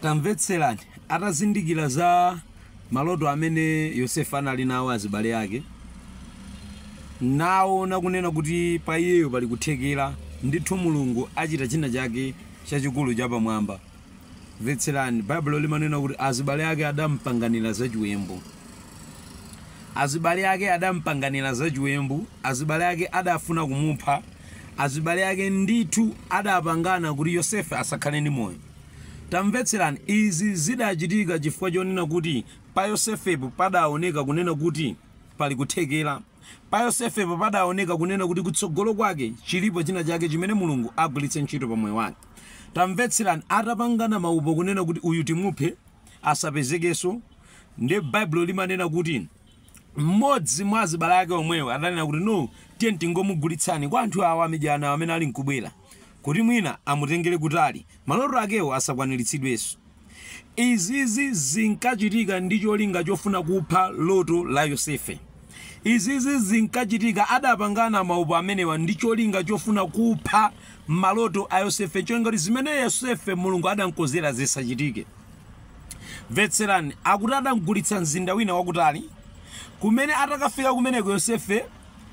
tamvetserani atazindikira za maloto amene yosefe anali nawo azibale ake naona kunena kuti pa iyeyo pali kuthekera ndithu mulungu achita china chake chachikulu chapamwamba mvetserani baibulo limanena kuti azibale ake adampanganira zachiwembu azibale ake adampanganira zachiwembu azibale ake adafuna kumupha Azibale ake ndithu adapangana kuti Yosefe asakhale ndi moyo. Tamvetserani, izi zidachitika chifukwa chonena kuti pa Yosefepo padaoneka kunena kuti pali kuthekera. Pa Yosefepo padaoneka kunena kuti kutsogolo kwake chilipo china chake chimene Mulungu agwiritse ntchito pa moyo wake. Tamvetserani, atapangana maupo kunena kuti uyu timuphe, asapezekenso, ndiye Baibulo limanena kuti. mmodzi mwa azibale ake omwewo adanena kuti no, tiyeni tingomugulitsani kwa anthu awa amidyanawo amene ali nkubwera kuti mwina amutengere kutali maloto akewo asakwaniritsidwenso. Izizi zinkachitika ndi cholinga chofuna kupha loto la Yosefe. Izizi zinkachitika adapangana maupo amenewa ndi cholinga chofuna kupha maloto a Yosefe, cholinga kuti zimene Yosefe Mulungu adamkonzera zisachitike. Mvetserani, akuti adamgulitsa mzinda wina wakutali, kumene atakafika kumeneko Yosefe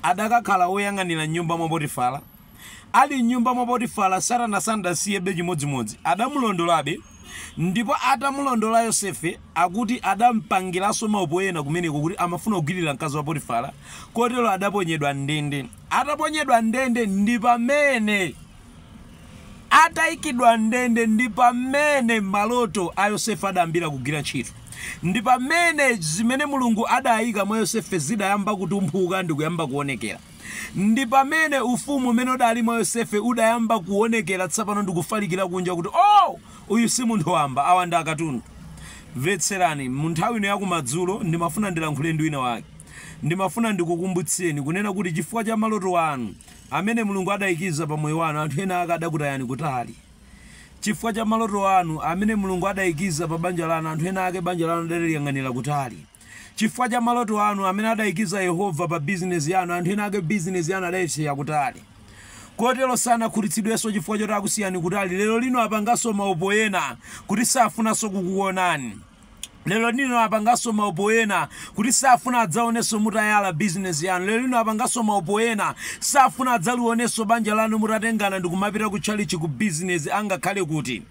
adakakhala woyang'anira m'nyumba mwa Potifara. Ali m'nyumba mwa Potifara, Satana sanasiyebe chimodzimodzi, adamulondolabe, ndipo atamulondola Yosefe, akuti adampangiranso maupo ena kumeneko kuti amafuna kugwirira mkazi wa Potifara, kotero adaponyedwa m'ndende. Ataponyedwa m'ndende ndi pamene. Ataikidwa m'ndende ndi pamene maloto a Yosefe adayambira kugwira ntchito. Ndi pamene zimene Mulungu adaika mwa Yosefe zidayamba kutumphuka ndi kuyamba kuonekera. Ndi pamene ufumu umene udali mwa Yosefe udayamba kuonekera tsopano ndi kufalikira kunja kuti, Oh! Uyu si munthu wamba, awa ndi akatundu. Mvetserani, mu nthawi ino ya kumadzulo, ndimafuna ndilankhule ndi winawake. Ndimafuna ndikukumbutseni, kunena kuti chifukwa cha maloto anu, amene Mulungu adaikiza pa moyo wanu, anthu ena ake adakutayani kutali. Chifukwa cha maloto anu amene Mulungu adaikiza pa banja lanu, anthu ena ake banja lanu adaliyang'anira kutali. Chifukwa cha maloto anu amene adaikiza Yehova pa bizinesi yanu, anthu ena ake bizinesi yanu adaisiya kutali. Kotero sanakhutitsidwenso chifukwa choti akusiyani kutali. Lero lino apanganso maupo ena kuti safunanso kukuwonani. Lero lino apanganso maupo ena kuti safuna adzaonenso mutayala business yanu. Lero lino apanganso maupo ena safuna adzalionenso banja lanu mutatengana ndikumapita ku tchalitchi ku business angakhale kuti.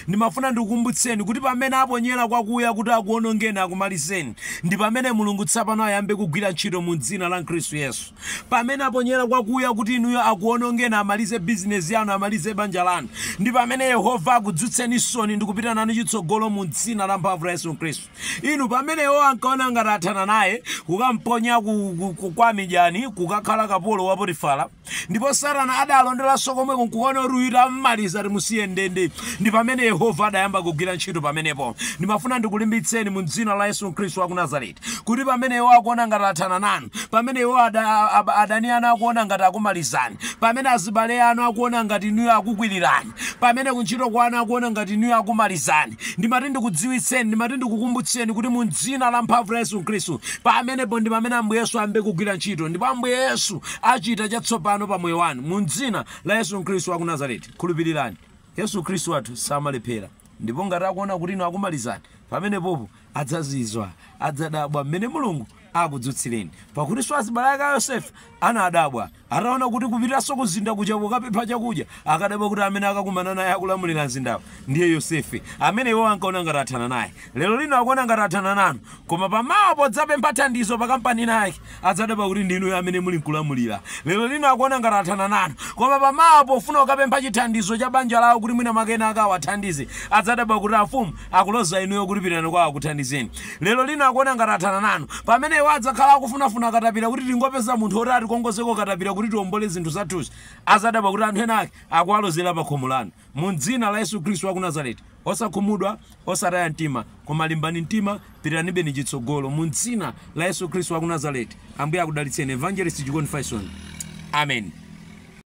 Ndimafuna ndikukumbutseni kuti pamene aponyera kwakuya kuti akuonongeni akumalizeni, ndipamene Mulungu tsapano ayambe kugwira ntchito mu dzina la Khristu Yesu. Pamene aponyera kwakuya kuti inuyo akuwonongeni, amalize bizinesi yanu, amalize banja lanu, ndi pamene Yehova akudzutsenisoni ndi kupita nanu chitsogolo mu Dzina lamphamvu la Yesu Khristu. Inu, pamene iwo ankaona ngati athana naye, kukamponya ku, ku, ku, kwa Amidyani, kukakhala kapolo wa Potifara, ndipo Satana adalondolanso komweko nkukaona kuti uyu tammaliza, timusiye m'ndende, ndi pamene Yehova adayamba kugwira ntchito pamenepo. Ndimafuna ndikulimbitseni mu Dzina la Yesu Khristu wa ku Nazareti. kuti pamene iwo akuona ngati athana nanu pamene iwo ada, ab, adani anu akuona ngati akumalizani pamene azibale anu akuona ngati inuyo akukwilirani pamene kuntchito kwanu akuona ngati inuyo akumalizani ndimati ndikudziwitseni ndimati ndikukumbutseni kuti mu dzina la mphamvu la yesu khristu pamenepo ndi pamene ambuye yesu ayambe kugwira ntchito ndipo ambuye yesu achita chatsopano pa moyo wanu mu dzina la yesu khristu wa ku nazareti khulupirirani yesu khristu wathu samalephera ndipo ngati akuona kuti inu akumalizani pamenepopo Adzazizwa, adzadabwa mmene Mulungu akudzutsireni. Pakutinso azibale ake a Yosefe anadabwa ataona kuti kupitanso kumzinda kuja kukapempha chakudya, akadabwa kuti amene akakumana naye akulamulira mzindawo ndiye Yosefe, amene iwo ankaona ngati athana naye. Lero lino akuona ngati athana nanu. Koma pa mawa podzapempha thandizo pa kampani inayake, Adzadabwa kuti ndi inuyo amene muli nkulamulira. Lero lino akuona ngati athana nanu. Koma pa mawa pofuna kukapempha chithandizo cha banja lawo kuti mwina mwake ena ake awathandize, adzadabwa kuti amfumu akuloza inuyo kuti pitani kwa awo akuthandizeni. Lero lino akuona ngati athana nanu. Pamene iwo adzakhala akufunafuna katapira kuti tingopeza munthu woti atikongozeko katapira kuti tiombole zinthu zathuzi, adzadabwa kuti anthu ena ake akuwalozera pakhomo lanu. Mu dzina la Yesu Khristu waku Nazareti, osakhumudwa, osataya mtima, koma limbani mtima, pitiranibe ni chitsogolo. Mu m'dzina la Yesu Khristu waku Nazareti, Ambuye akudalitseni. Evangelist Chikondi Faison. Amen.